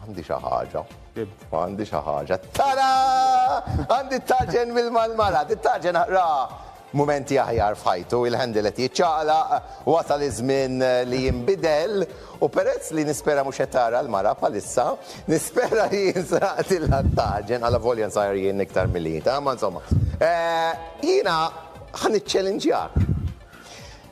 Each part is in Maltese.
Għandi xi ħaġa. Għandi xi ħaġa. Tara! Għandi t-taġen bil-malmala, t-taġen ra mumenti aħjar f'ħajtu, il-handle qed jiċċaqlaq, wasal iż-żmien eh, li jinbidel u peress li nispera mhux qed tara l-mara bħalissa, nispera li jinsraqt il-lattaġen għal volja nsajr jien iktar milita, ma insomma. Eh, jiena ħan iċċelinġjak.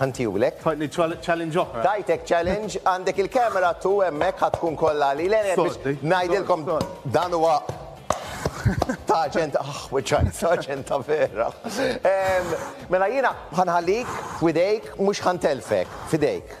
Ħantiulek. Tfajtni challenge oħra. Tajtek challenge, għandek il-camera tu hemmhekk ħa tkun kollha li le biex ngħidilkom dan huwa ta' ġent aħ wiċċajt ta' ġent ta' vera. Mela jiena ħanħallik f'widejk mhux ħantelfek f'idejk.